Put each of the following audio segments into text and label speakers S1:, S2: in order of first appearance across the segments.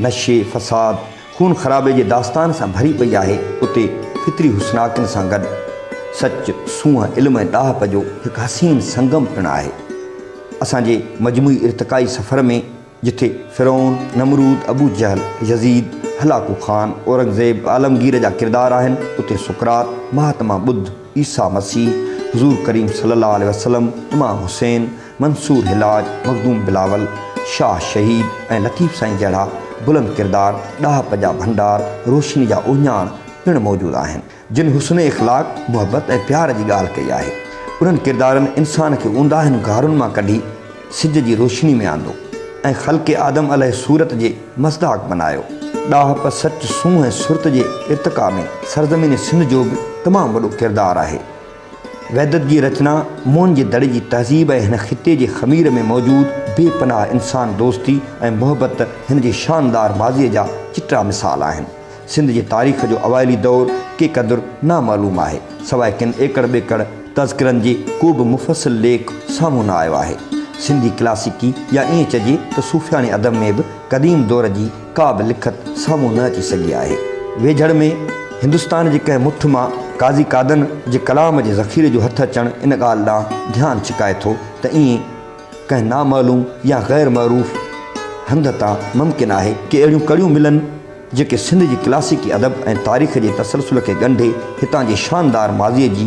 S1: نشي، فساد، خون خرابي جي داستان سان ڀري پئي آهي، اتي فطري حسناڪين سان گڏ سچ، سونهن، علم ۽ ڏاهپ جو هڪ حسين سنگم پڻ آهي. اسان جي مجموعي ارتقائي سفر ۾ جٿي فرعون، نمرود، ابو جهل، يزيد، هلاڪو خان، اورنگزيب، عالمگير جا ڪردار آهن، اتي سقراط، مهاتما ٻڌ، عيسيٰ مسيح، حضور ڪريم صلي الله عليه وسلم، امام حسين، منصور حلاج، مخدوم بلاول، شاهه شهيد ۽ لطيف سائين جهڙا بلند ڪردار، ڏاهپ جا ڀنڊار، روشني جا اهڃاڻ پڻ موجود آهن، جن حسن اخلاق، محبت ۽ پيار جي ڳالهه ڪئي آهي. انهن ڪردارن انسان کي اونداهين غارن مان ڪڍي سج جي روشني ۾ آندو ۽ خلق آدم عليه صورت جي مصداق بنايو. ڏاهپ، سچ، سونهن ۽ سرت جي ارتقا ۾ سرزمين سنڌ جو به تمام وڏو ڪردار آهي. وحدت جي رچنا موهن جي دڙي جي تهذيب ۽ هن خطي جي خمير ۾ موجود بي پناهه انسان دوستي ۽ محبت هن جي شاندار ماضيء جا چٽا مثال آهن. سنڌ جي تاريخ جو اوائلي دور ڪي قدر نامعلوم آهي. سواء ڪن ايڪڙ ٻيڪڙ تذڪرن جي ڪو به مفصل ليک سامهون نه آيو آهي. سنڌي ڪلاسيڪي يا ائين چئجي ته صوفياڻي ادب ۾ به قديم دور جي ڪا به لکت سامهون نه اچي سگهي آهي. ويجهڙ ۾ هندستان جي ڪنهن مٺ مان قاضي قادن جي ڪلام جي ذخيري جو هٿ اچڻ ان ڳالهه ڏانهن ڌيان ڇڪائي ٿو ته ائين ڪنهن نامعلوم يا غير معروف هنڌ تان ممڪن آهي ڪي اهڙيون ڪڙيون ملن جيڪي سنڌ جي ڪلاسيڪي ادب ۽ تاريخ جي تسلسل کي ڳنڍي هتان جي شاندار ماضيء جي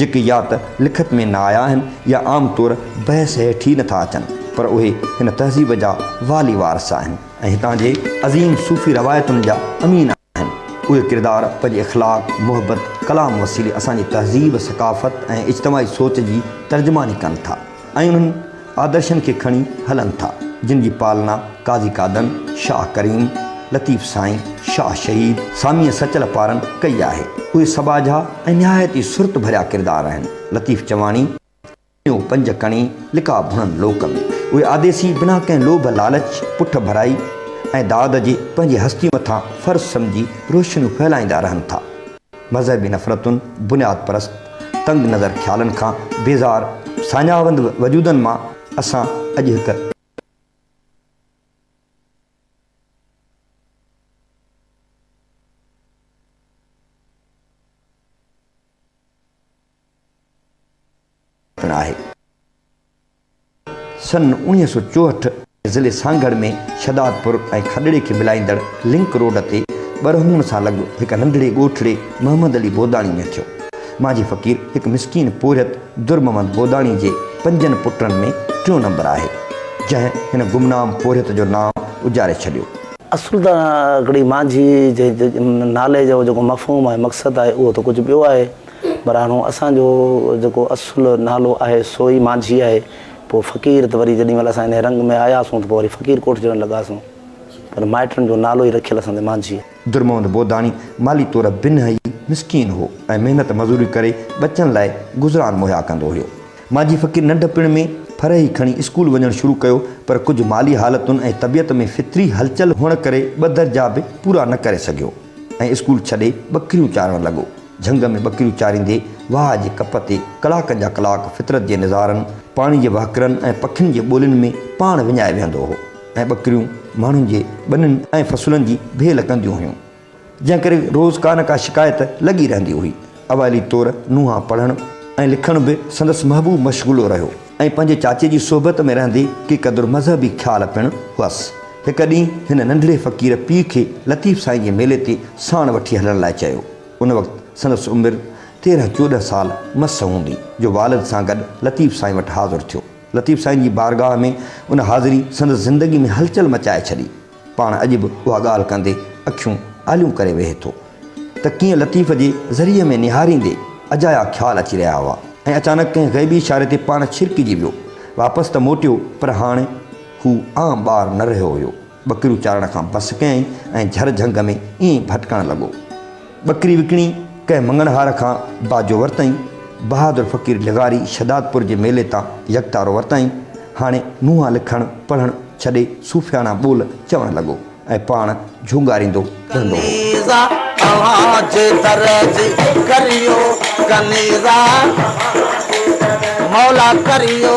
S1: جيڪي يا ته لکت ۾ نه آيا آهن يا عام طور بحث هيٺ ئي نٿا اچن پر اهي هن تهذيب جا والي وارث آهن ۽ هتان جي عظيم صوفي روايتن جا امين آهن. اهي ڪردار پنهنجي اخلاق، محبت، ڪلام وسيلي اسان جي تهذيب، ثقافت ۽ اجتماعي سوچ جي ترجماني ڪن ٿا. ۽ انهن آدرشن کي کڻي هلن ٿا، جن جي پالنا قاضي قادن، شاهه ڪريم، لطيف سائين، شاهه شهيد، ساميء سچل پارن ڪئي آهي. اهي سٻاجها ۽ نهايت ئي سرت ڀريا ڪردار آهن. لطيف چواڻي، ڪنيو پنج ڪڻي، لقاء ڀڻن لوڪ ۾، اهي آديسي بنا ڪنهن لوڀ لالچ، پٺ ڀرائي ۽ داد جي پنهنجي هستي مٿان فرض سمجهي روشنيون ڦهلائيندا رهن ٿا. مذهبي نفرتن، بنياد پرست، تنگ نظر خيالن کان بيزار ساڃاهوند وجودن مان اسان اڄ هڪ. پڻ آهي. سن اوڻيهه سؤ چوهٺ ۾ ضلعي سانگهڙ ۾ شهدادپور ۽ کڏڙي کي ملائيندڙ لنڪ روڊ تي ٻرهونء سان لڳ هڪ ننڍڙي ڳوٺڙي محمد علي بوداڻي ۾ ٿيو. مانجهي فقير هڪ مسڪين پورهيت درمحمد بوداڻي جي پنجن پٽن ۾ ٽيون نمبر آهي، جنهن هن گمنام پورهيت جو نانء اجاري ڇڏيو. اصل ته
S2: هڪڙي مانجهي جي نالي جو جيڪو مفهوم ۽ مقصد آهي، اهو ته ڪجهه ٻيو آهي. پر هاڻو اسان جو جيڪو اصل نالو آهي سو ئي مانجهي آهي. پوء فقير ته وري جيڏي مهل اسان انهيء رنگ ۾ آياسون ته پوء وري فقير ڪوٺجڻ لڳاسون. پر مائٽن جو نالو ئي رکيل اسان تي مانجهي آهي. درمحمد بوداڻي
S1: مالي طور بنهه ئي مسڪين هو ۽ محنت مزوري ڪري ٻچن لاء گذران مهيا ڪندو هيو. مانجهي فقير ننڍپڻ ۾ ڦر ئي کڻي اسڪول وڃڻ شروع ڪيو پر ڪجهه مالي حالتن ۽ طبيعت ۾ فطري هلچل هئڻ ڪري ٻه درجا به پورا نه ڪري سگهيو ۽ اسڪول ڇڏي ٻڪريون چارڻ لڳو. جهنگ ۾ ٻڪريون چاريندي واهه جي ڪپ تي ڪلاڪن جا ڪلاڪ فطرت جي نظارن، پاڻي جي وهڪرن ۽ پکين جي ٻولين ۾ پاڻ وڃائي ويهندو هو ۽ ٻڪريون ماڻهن جي ٻنين ۽ فصلن جي ڀيل ڪنديون هيون، جنهن ڪري روز ڪا نه ڪا شڪايت لڳي رهندي هئي. اوائلي طور نونهان پڙهڻ ۽ لکڻ به سندس محبوب مشغلو رهيو. ۽ پنهنجي چاچي جي صحبت ۾ رهندي ڪي قدر مذهبي خيال پڻ هئس. هڪ ڏينهن هن ننڍڙي فقير پيء کي لطيف سائين جي ميلي تي ساڻ وٺي هلڻ لاء چيو. ان وقت سندس عمر تيرهن چوڏهن سال مس هوندي جو والد سان گڏ لطيف سائين وٽ حاضر ٿيو. لطيف سائين جي بارگاهه ۾ ان حاضري سندس زندگي ۾ هلچل مچائي ڇڏي. پاڻ اڄ به اها ڳالهه ڪندي اکيون آليون ڪري ويهي ٿو ته ڪيئن لطيف جي ذريعي ۾ نهاريندي اجايا خيال اچي رهيا هئا ۽ اچانڪ ڪنهن غيبي اشاري تي پاڻ ڇرڪجي ويو. واپس ته موٽيو پر هاڻي هو عام ٻار نه رهيو هيو. ٻڪريون چارڻ کان بس ڪيائين ۽ جهر جهنگ ۾ ائين ڀٽڪڻ لڳو. ٻڪري وڪڻي ڪنهن مڱڻهار کان باجو ورتائين، بهادر فقير لغاري شھدادپور جي ميلي تان يڪتارو ورتائين، هاڻي منهان لکڻ پڙهڻ ڇڏي صوفياڻا ٻول چوڻ لڳو ۽ پاڻ جهونگاريندو رهندو هو. ڪنيزا اوهان جي در جي ڪريو
S2: ڪنيزا مولا ڪريو.